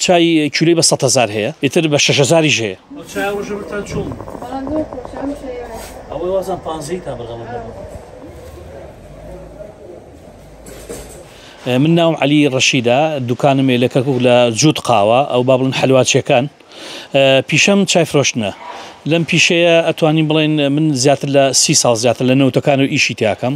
چای کیلۆی بە سەد هەزار هەیە ئیتر بە شەش هەزاریش هەیە. ئەو چای ڕۆژە بەرتان چۆن بوو؟ بەڵام زۆر خۆشە ئەم شەیە. ئەوەی وازان پانزەی تا بەرغەڵەت نەبوو. من ناوم علی ڕەشیدە دوکانمێ لە کەرکک لە جووت قاوە ئەو با بڵن حلواچیەکان پیشەم چای فرۆشتنە لەم پیشەیە ئەتوانین بڵێن من زیاتر لە سی ساڵ زیاتر لە نەوتەکان و ئیشی تیاکەم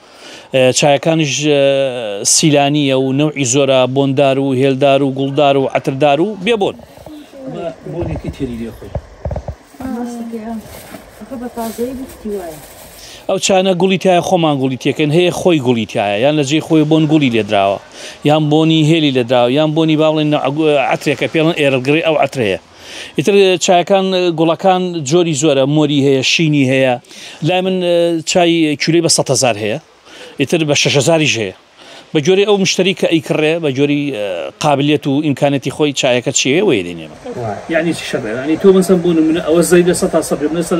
چایەکانیش سیلانییە و نەوعی زۆرە، بۆندار و هێلدار و گوڵدار و عەتردار و بێ بۆن. ئەمە بۆنێکی تێری لێ خۆی. ڕاستە گیان ئەخە بە تازەیی بووکتی وایە. ئەو چانە گوڵی تایە خۆمان گوڵی تێکەین هەیە خۆی گوڵی تایە یان لە جێی خۆی بۆن گوڵی لێدراوە یان بۆنی هێلی لێدراوە یان بۆنی با بڵێن عەترێکە پێڵن ئێرڵ گڕی ئەو عەترەیە. ئیتر چایەکان گوڵەکان جۆری زۆرە مۆری هەیە شینی هەیە لای من چای کولەی بە سەهزار هەیە ئیتر بە شەشزاریش هەیە بە جۆری ئەو مشتری کە ئەیکڕێ بە جۆری قابلێت و ئیمکانەتی خۆی چایەکە چێوەیە دێنێمە یعنی چی شەڕێ ینی تۆ بەسەم بۆ نمونە ئەوە زەیدە سە تا سەبێ بەسەر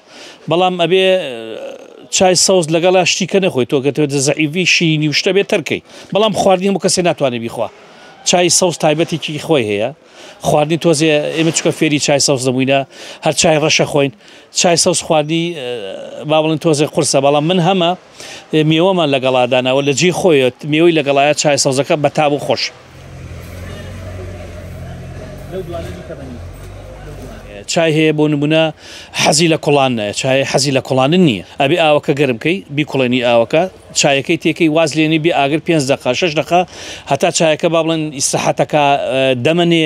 بەڵام ئەبێ چای سەوز لەگەڵا شتیکە نەخۆی تۆ کە تێتە زەعیوی شینی و شتە بێت تەرکەی بەڵام خواردنی هەموو کەسێ ناتوانێت بیخوا چای سەوز تایبەتێکی خۆی هەیە خواردنی تۆزێ ئێمە چکە فێری چای سەوز دەبووینە هەر چای ڕەشە خۆین چای سەوز خواردنی با بڵێن تۆزێ قرسە بەڵام من هەمە میوەمان لەگەڵا داناوە لە جێی خۆیەت میوەی لەگەڵایە چای سەوزەکە بە تاب و خۆش چای هەیە بۆ نمونە حەزی لە کوڵان نایە چای حەزی لە کوڵانن نییە ئەبێ ئاوەکە گەرمکەی بیکوڵێنی ئاوەکە چایەکەی تێکەی واز لێنی بێ ئاگر پێنج دقا شش دقا هەتا چایەکە با بڵێن ئیسراحەتەکە دەمەنێ